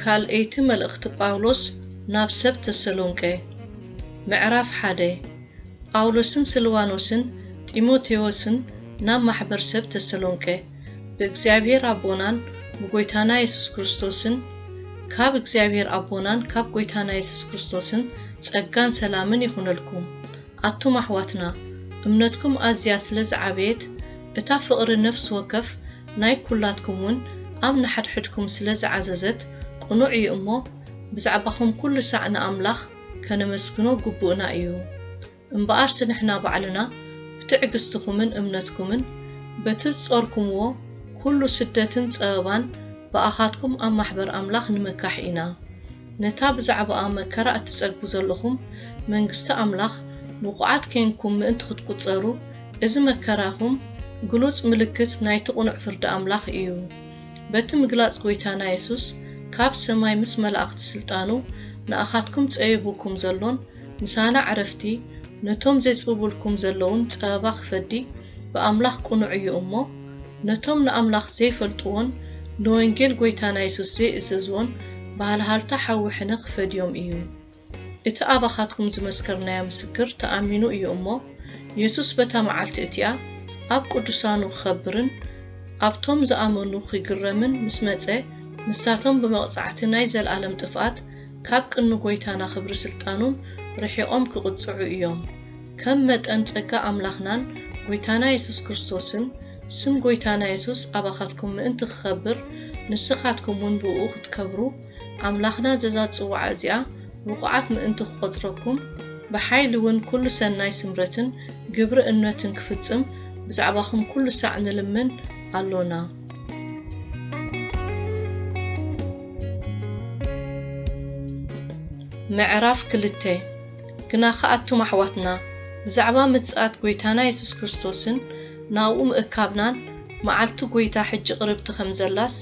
ካልኣይቲ መልእኽቲ ጳውሎስ ናብ ሰብ ተሰሎንቄ ምዕራፍ ሓደ ጳውሎስን ስልዋኖስን ጢሞቴዎስን ናብ ማሕበር ሰብ ተሰሎንቄ። ብእግዚኣብሔር ኣቦናን ብጐይታና የሱስ ክርስቶስን ካብ እግዚኣብሔር ኣቦናን ካብ ጐይታና የሱስ ክርስቶስን ጸጋን ሰላምን ይኹነልኩም ኣቱም ኣሕዋትና እምነትኩም ኣዝያ ስለ ዝዓበየት እታ ፍቕሪ ነፍሲ ወከፍ ናይ ኩላትኩም ውን ኣብ ንሓድሕድኩም ስለ ዝዓዘዘት ቅኑዕ እዩ እሞ ብዛዕባኹም ኩሉ ሳዕ ንኣምላኽ ከነመስግኖ ግቡእና እዩ። እምበኣርሲ ንሕና ባዕልና ብትዕግስትኹምን እምነትኩምን በቲ ዝጾርኩምዎ ኩሉ ስደትን ጸበባን ብኣኻትኩም ኣብ ማሕበር ኣምላኽ ንምካሕ ኢና ነታ ብዛዕባኣ መከራ እትጸግቡ ዘሎኹም መንግስቲ ኣምላኽ ብቑዓት ኴንኩም ምእንቲ ክትቁጸሩ እዚ መከራኹም ግሉጽ ምልክት ናይቲ ቅኑዕ ፍርዲ ኣምላኽ እዩ በቲ ምግላጽ ጎይታና የሱስ ካብ ሰማይ ምስ መላእኽቲ ስልጣኑ ንኣኻትኩም ጸዩቡኩም ዘሎን ምሳና ዕረፍቲ ነቶም ዜጽብቡልኩም ዘለዉን ጸበባ ኺፈዲ ብኣምላኽ ቅኑዕ እዩ እሞ፣ ነቶም ንኣምላኽ ዘይፈልጥዎን ንወንጌል ጐይታና የሱስ ዘይእዘዝዎን ብሃልሃልታ ሓዊ ሕነ ኺፈድዮም እዩ። እቲ ኣባኻትኩም ዝመስከርናዮ ምስክር ተኣሚኑ እዩ እሞ፣ የሱስ በታ መዓልቲ እቲኣ ኣብ ቅዱሳኑ ኪኸብርን ኣብቶም ዝኣመኑ ኺግረምን ምስ መጸ ንሳቶም ብመቕጻዕቲ ናይ ዘለኣለም ጥፍኣት ካብ ቅኑ ጎይታና ክብሪ ስልጣኑን ርሒቆም ክቅጽዑ እዮም ከም መጠን ጸጋ ኣምላክናን ጎይታና የሱስ ክርስቶስን ስም ጎይታና የሱስ ኣባካትኩም ምእንቲ ክከብር ንስካትኩም ውን ብእኡ ክትከብሩ ኣምላክና ዘዛ ጽዋዓ እዚኣ ብቁዓት ምእንቲ ክቆጽረኩም ብሓይሊ ውን ኩሉ ሰናይ ስምረትን ግብሪ እነትን ክፍጽም ብዛዕባኩም ኩሉ ሳዕ ንልምን ኣሎና። ምዕራፍ ክልተ ግናኸ ኣቱም ኣሕዋትና፣ ብዛዕባ ምጽኣት ጐይታና የሱስ ክርስቶስን ናብኡ ምእካብናን፣ መዓልቲ ጐይታ ሕጂ ቅርብቲ ከም ዘላስ፣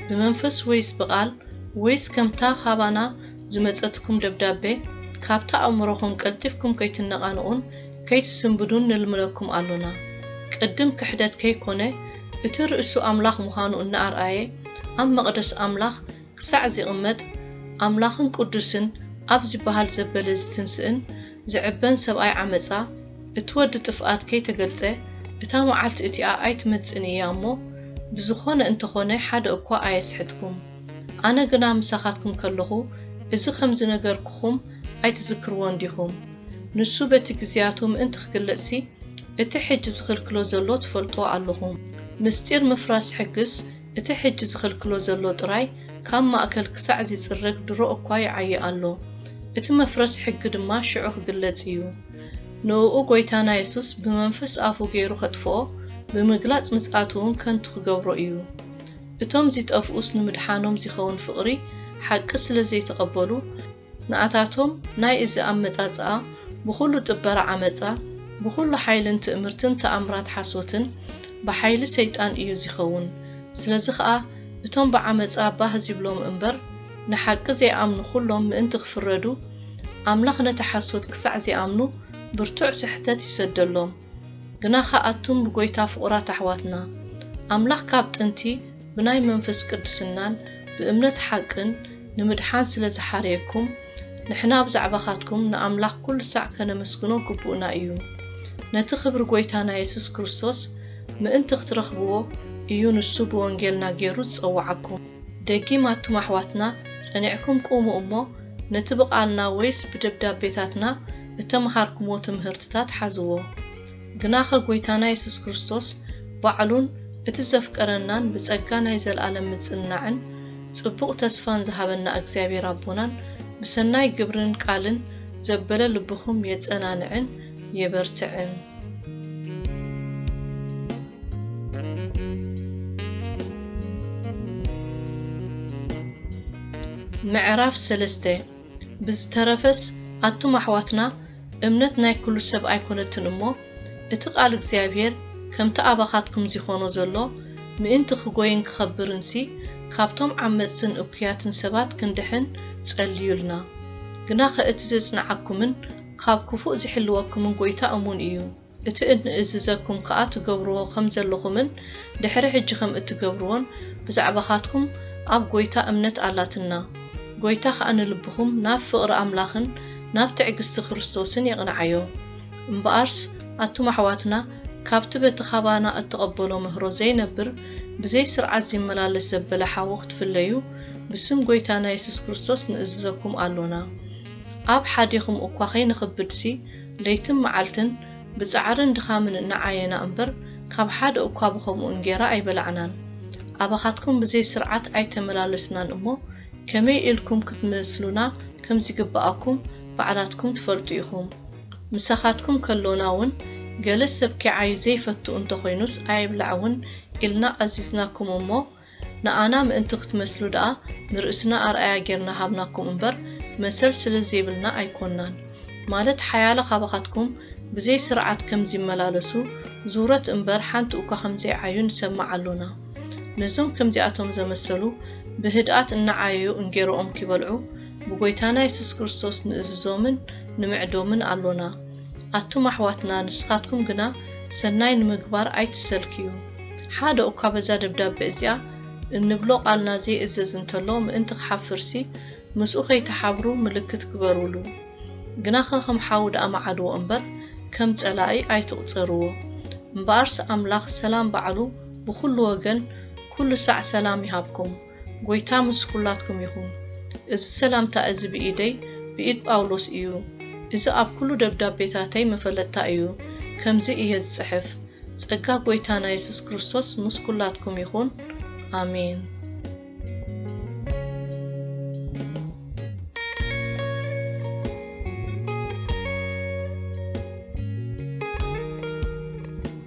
ብመንፈስ ወይስ ብቓል፣ ወይስ ከምታ ኻባና ዝመጸትኩም ደብዳበ፣ ካብታ ኣእምሮኹም ቀልጢፍኩም ከይትነቓንቑን ከይትስንብዱን ንልምነኩም ኣሎና። ቅድም ክሕደት ከይኰነ፣ እቲ ርእሱ ኣምላኽ ምዃኑ እናኣርኣየ ኣብ መቕደስ ኣምላኽ ክሳዕ ዚቕመጥ፣ ኣምላኽን ቅዱስን ኣብ ዚበሃል ዘበለ ዚትንስእን ዚዕበን ሰብኣይ ዓመጻ፣ እቲ ወዲ ጥፍኣት ከይተገልጸ እታ መዓልቲ እቲኣ ኣይትመጽእን እያ እሞ፣ ብዝኾነ እንተ ኾነ ሓደ እኳ ኣየስሕትኩም። ኣነ ግና ምሳኻትኩም ከለኹ እዚ ኸም ዝነገርኩኹም ኣይትዝክርዎን ዲኹም? ንሱ በቲ ግዝያቱ ምእንቲ ክግለጽሲ እቲ ሕጂ ዝኽልክሎ ዘሎ ትፈልጥዎ ኣሎኹም። ምስጢር ምፍራስ ሕግስ እቲ ሕጂ ዝኽልክሎ ዘሎ ጥራይ ካብ ማእከል ክሳዕ ዚጽረግ ድሮ እኳ ይዓዪ ኣሎ። እቲ መፍረስ ሕጊ ድማ ሽዑ ክግለጽ ኢዩ። ንእኡ ጎይታና የሱስ ብመንፈስ ኣፉ ገይሩ ከጥፍኦ ብምግላጽ ምጽኣቱ ውን ከንቱ ክገብሮ ኢዩ። እቶም ዚጠፍኡስ ንምድሓኖም ዚኸውን ፍቕሪ ሓቂ ስለ ዘይተቐበሉ፣ ንኣታቶም ናይ እዚ ኣመጻጽኣ ብኹሉ ጥበራ ዓመጻ ብኹሉ ሓይልን ትእምርትን ተኣምራት ሓሶትን ብሓይሊ ሰይጣን እዩ ዚኸውን ስለዚ ኸኣ እቶም ብዓመጻ ባህ ዚብሎም እምበር ንሓቂ ዘይኣምኑ ኩሎም ምእንቲ ክፍረዱ ኣምላኽ ነቲ ሓሶት ክሳዕ ዚኣምኑ ብርቱዕ ስሕተት ይሰደሎም። ግናኸ ኣቱም ብጐይታ ፍቑራት ኣሕዋትና፣ ኣምላኽ ካብ ጥንቲ ብናይ መንፍስ ቅድስናን ብእምነት ሓቅን ንምድሓን ስለ ዝሓረየኩም፣ ንሕና ብዛዕባኻትኩም ንኣምላኽ ኩሉ ሳዕ ከነመስግኖ ግቡእና እዩ። ነቲ ክብሪ ጐይታና የሱስ ክርስቶስ ምእንቲ ክትረኽብዎ እዩ ንሱ ብወንጌልና ገይሩ ዝጸውዓኩም። ደጊም ኣቱም ኣሕዋትና ጸኒዕኩም ቁሙ እሞ ነቲ ብቓልና ወይስ ብደብዳቤታትና እተመሃርኩምዎ ትምህርትታት ሓዝዎ። ግናኸ ጐይታና የሱስ ክርስቶስ ባዕሉን እቲ ዘፍቀረናን ብጸጋ ናይ ዘለኣለም ምጽንናዕን ጽቡቕ ተስፋን ዝሃበና እግዚኣብሔር ኣቦናን ብሰናይ ግብርን ቃልን ዘበለ ልብኹም የጸናንዕን የበርትዕን። ምዕራፍ ሰለስተ ብዝተረፈስ ኣቱም ኣሕዋትና እምነት ናይ ኩሉ ሰብ ኣይኮነትን እሞ እቲ ቃል እግዚኣብሄር ከምቲ ኣባኻትኩም ዚኾኖ ዘሎ ምእንቲ ክጎይን ክኸብርንሲ ካብቶም ዓመጽትን እኩያትን ሰባት ክንድሕን ጸልዩልና ግናኸ እቲ ዜጽንዓኩምን ካብ ክፉእ ዚሕልወኩምን ጎይታ እሙን እዩ። እቲ እንእዝዘኩም ከኣ ትገብርዎ ከም ዘለኹምን ድሕሪ ሕጂ ከም እትገብርዎን ብዛዕባኻትኩም ኣብ ጐይታ እምነት ኣላትና። ጐይታ ከኣ ንልብኹም ናብ ፍቕሪ ኣምላኽን ናብ ትዕግስቲ ክርስቶስን የቕንዓዮ። እምበኣርስ ኣቱም ኣሕዋትና ካብቲ በቲ ኻባና እትቐበሎ ምህሮ ዘይነብር ብዘይ ስርዓት ዚመላለስ ዘበለ ሓዉ ክትፍለዩ ብስም ጐይታና የሱስ ክርስቶስ ንእዝዘኩም ኣሎና። ኣብ ሓዲኹም እኳ ከይንኽብድሲ ለይትን መዓልትን ብጻዕርን ድኻምን እናዓየና እምበር ካብ ሓደ እኳ ብኸምኡ እንጌራ ኣይበላዕናን። ኣባኻትኩም ብዘይ ስርዓት ኣይተመላለስናን እሞ ከመይ ኢልኩም ክትመስሉና ከም ዚግብኣኩም ባዕላትኩም ትፈልጡ ኢኹም። ምሳኻትኩም ከሎና ውን ገለ ሰብ ኪዓዪ ዘይፈቱ እንተ ኾይኑስ ኣይብላዕ ውን ኢልና ኣዚዝናኩም እሞ ንኣና ምእንቲ ክትመስሉ ደኣ ንርእስና ኣርኣያ ጌርና ሃብናኩም እምበር መሰል ስለ ዘይብልና ኣይኮናን ማለት ሓያለ ካባኻትኩም ብዘይ ስርዓት ከም ዚመላለሱ ዙረት እምበር ሓንቲ እኳ ከም ዘይዓዩ ንሰምዕ ኣሎና ነዞም ከምዚኣቶም ዘመሰሉ ብህድኣት እናዓየዩ እንጌሮኦም ኪበልዑ ብጐይታና የሱስ ክርስቶስ ንእዝዞምን ንምዕዶምን ኣሎና ኣቱም ኣሕዋትና ንስኻትኩም ግና ሰናይ ንምግባር ኣይትሰልክዩ። ሓደ ኡኳ በዛ ደብዳበ እዚኣ እንብሎ ቃልና ዘይእዘዝ እንተሎ ምእንቲ ክሓፍርሲ ምስኡ ከይትሓብሩ ምልክት ግበሩሉ። ግናኸ ከም ሓው ደኣ መዓድዎ እምበር ከም ጸላኢ ኣይትቑጸርዎ። እምበኣርስ ኣምላኽ ሰላም ባዕሉ ብኹሉ ወገን ኩሉ ሳዕ ሰላም ይሃብኩም። ጐይታ ምስ ኵላትኩም ይኹን። እዚ ሰላምታ እዚ ብኢደይ ብኢድ ጳውሎስ እዩ። እዚ ኣብ ኵሉ ደብዳቤታተይ መፈለጥታ እዩ። ከምዚ እየ ዝጽሕፍ፣ ጸጋ ጐይታና የሱስ ክርስቶስ ምስ ኵላትኩም ይኹን። ኣሜን።